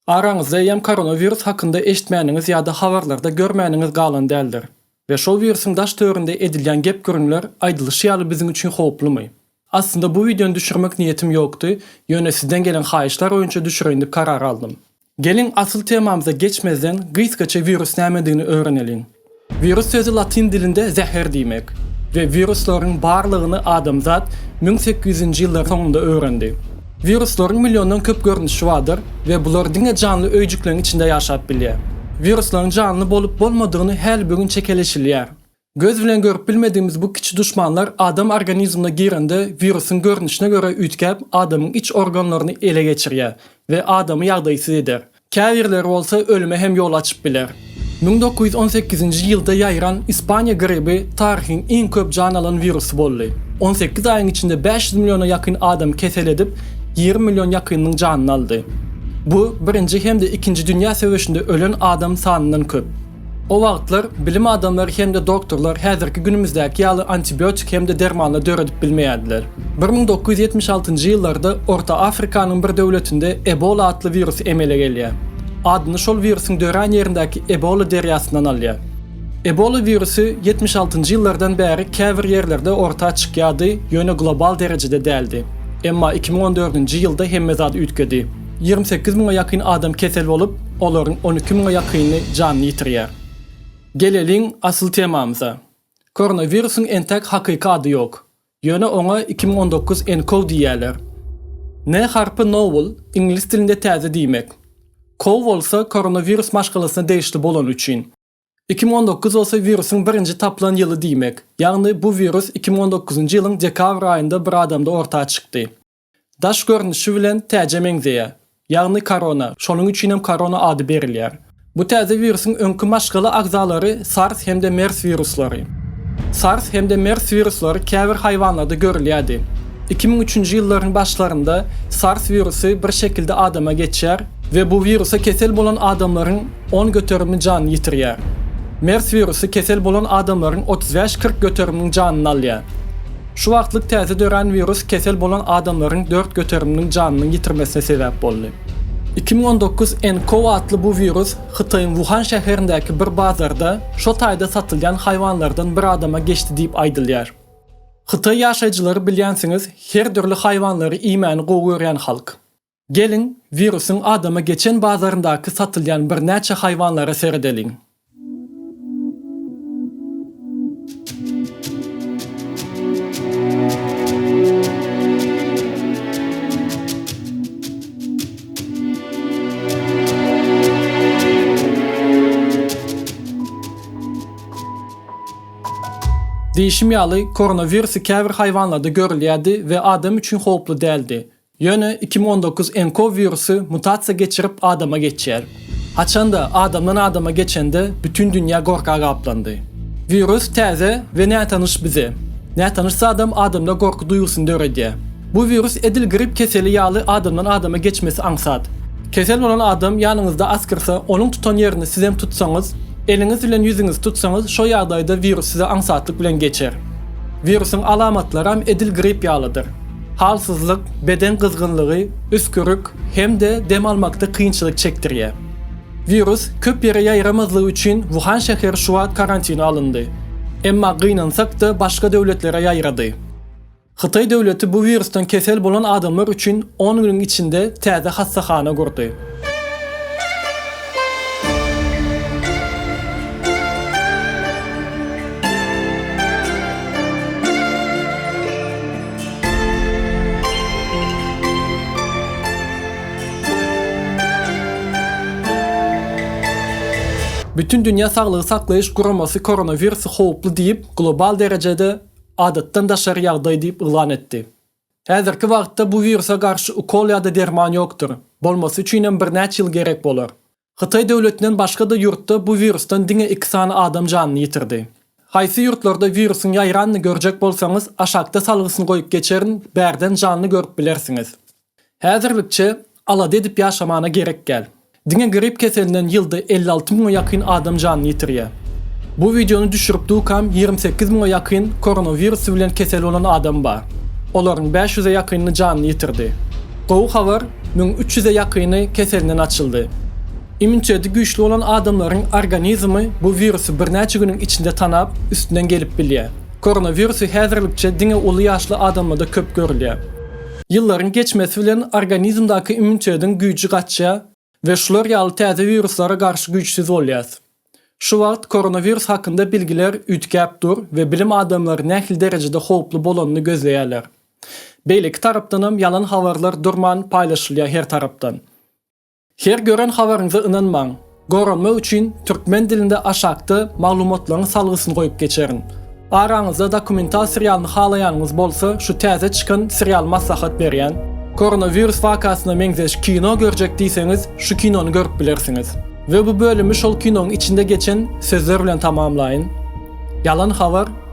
Araňyzda eýýäm koronawirus hakynda eşitmäniňiz ýa-da habarlarda görmäniňiz galan däldir. We şol wirusyň daş-töwerinde edilýän gep-gürrüňler aýdylyşy ýaly biziň üçin howplumy? Aslynda bu wideony düşürmek niýetim ýokdy, ýöne sizden gelen haýyşlar boýunça düşüreýin diýip karar aldym. Geliň asyl temamyza geçmezden gysgaça wirus nämedigini öwreneliň. Wirus sözi latyn dilinde zäher diýmek we wiruslaryň barlygyny adamzat müň sekiz ýüzünji ýyllaryň soňunda öwrendi. Wiruslaryň milliondan köp görnüşi bardyr we bular diňe janly öýjükleriň içinde ýaşap bilýär. Wiruslaryň janly bolup bolmadygyny häli-bu gün çekeleşilýär. Göz bilen görüp bilmedigimiz bu kiçi duşmanlar adam organizmine girende wirusyň görnüşine görä üýtgäp adamyň iç organlaryny ele geçirýär we adamy ýagdaýsyz eder. Käbirleri bolsa ölüme hem ýol açyp biler. Müň dokuz ýüz on sekizinji ýylda ýaýran Ispaniýa gribi taryhyň iň köp jan alan wirusy boldy. On sekiz aýyň içinde bäş ýüz milliona ýakyn adam kesel edip, ýigrimi million ýakynynyň janyny aldy. Bu Birinji hem-de Ikinji dünýä söweşinde ölen adam sanyndan köp. O wagtlar bilim adamlary hem-de doktorlar häzirki günümizdäki ýaly antibiotik hem-de dermanlar döredip bilmeýärdiler. Bir müň dokuz ýüz ýetmiş altynjy ýyllarda Orta Afrikanyň bir döwletinde Ebola atly wirus emele gelýär. Adyny şol wirusyň dörän ýerindäki Ebola derýasyndan alýar. Ebola wirusy ýetmiş altynjy ýyllardan bäri käbir ýerlerde orta çykýardy, ýöne global derejede däldi. Emma iki müň on dördünji ýylda hemme zat üýtgedi. Ýigrimi sekiz müňe ýakyn adam kesel bolup, olaryň on iki müňe ýakyny janyny ýitirýär. Geleliň asyl temamyza. Koronawirusyň entek hakyky ady ýok. Ýöne oňa iki müň on dokuz nkow diýýärler. N harpy novel, iňlis dilinde täze diýmek. Kow bolsa koronawirus maşgalasyna degişli bolany üçin. Iki müň on dokuz bolsa wirusyň birinji tapylan ýyly diýmek. Ýagny bu wirus iki müň on dokuzynjy ýylyň dekabr aýynda bir adamda orta çykdy. Daş görnüşi bilen täjä meňzeýär. Ýagny korona, şonuň üçin hem korona ady berilýär. Bu täze wirusyň öňki maşgala agzalary SARS hem-de MERS wiruslary. SARS hem-de MERS wiruslary käbir haýwanlarda görülýärdi. Iki müň üçünji ýyllaryň başlarynda SARS wirusy bir şekilde adama geçýär we bu wirusa kesel bolan adamlaryň on göterimi jan ýitirýär. Mers wirusy kesel bolan adamlaryň otuz bäş-kyrk göteriminiň janyny alýar. Şu wagtlyk täze dörän wirus kesel bolan adamlaryň dört göteriminiň janynyň ýitirmesine sebäp boldy. Iki müň on dokuz nCoV atly bu wirus Hytaýyň Wuhan şäherindäki bir bazarda şo taýda satylýan haýwanlardan bir adama geçdi diýip aýdylýar. Hytaý ýaşaýjylary bilýänsiňiz her dürli haýwanlary iýmäni gowy görýän halk. Geliň, wirusyň adama geçen bazaryndaky satylýan birnäçe haýwanlara seredeliň. Diýşim ýaly, koronawirusy käbir haýwanlarda görülýärdi we adam üçin howply däldi. Ýöne iki müň on dokuz nkow wirusy mutasiýa geçirip adama geçýär. Haçanda adamdan adama geçende bütin dünýä gorka gaplandy. Wirus täze we nätanyş bize. Nätanyş zadam adamda gorky duýgusyny döredýär. Bu wirus edil grip keseli ýaly adamdan adama geçmesi aňsat. Kesel bolan adam ýanyňyzda asgyrsa onuň tutan ýerini sizem tutsaňyz, eliňiz bilen ýüzüňizi tutsaňyz şo ýagdaýda wirus size aňsatlyk bilen geçer. Wirusyň alamatlaram edil grip ýalydyr. Halsyzlyk, beden gyzgynlygy, üsgürik hem-de dem almakda kynçylyk çekdirýär. Wirus köp ýere ýaýramazlygy üçin Wuhan şäheri şu wagt karantine alyndy. Emma gynansak-da başga döwletlere ýaýrady. Hytaý döwleti bu wirusdan kesel bolan adamlar üçin on günüň içinde täze hassahana gurdy. Bütindünýä saglygy saklaýyş guramasy koronawirusy howply diýip, global derejede Adatdan daşary ýagdaý diýip yglan etdi. Häzirki wagtda bu wirusa garşy ukol ýa-da derman ýokdur, bolmasy üçin hem birnäçe ýyl gerek bolar. Hytaý döwletinden başga-da ýurtda bu wirusdan diňe iki sany adam janyny ýitirdi. Haýsy ýurtlarda wirusyň ýaýranyny görjek bolsaňyz, aşakda salgysyny goýup geçerin, bärden janly görüp bilersiňiz. Häzirlikçe alada edip ýaşamana gerek däl. Diňe grip keselinden ýylda elli alty müňe ýakyn adam janyny ýitirýär. Bu wideony düşürip dukam ýigrimi sekiz müňe ýakyn koronawirus bilen kesel bolan adam bar. Olaryň bäş ýüze ýakyny janyny ýitirdi. Gowy habar, müň üç ýüze ýakyny keselinden açyldy. Immuniteti güýçli bolan adamlaryň organizmi bu wirusy birnäçe günüň içinde tanap, üstünden gelip bilýär. Koronawirusy häzirlikçe diňe uly ýaşly adamlarda köp görülýär. Ýyllaryň geçmesi bilen organizmdaky immunitediň güýji gaçýar we şular ýaly täze wiruslara garşy güýçsüz bolýas. Şu wagt koronawirus hakynda bilgiler üýtgäp dur we bilim adamlary nähili derejede howply bolanyny gözleýärler. Beýleki tarapdanam ýalan habarlar durman paýlaşylýar her tarapdan. Her gören habaryňyza ynanmaň. Goranmak üçin türkmen dilinde aşakda maglumatlaryň salgysyny goýup geçerin. Araňyzda dokumental serialyny halaýanyňyz bolsa şu täze çykan serialy maslahat berýän. Koronawirus wakasyna meňzeş kino görjek diýseňiz şu kinony görüp bilersiňiz. We bu bölümi şol kinoň içinde geçen sözler bilen tamamlaýyn. Ýalan habar.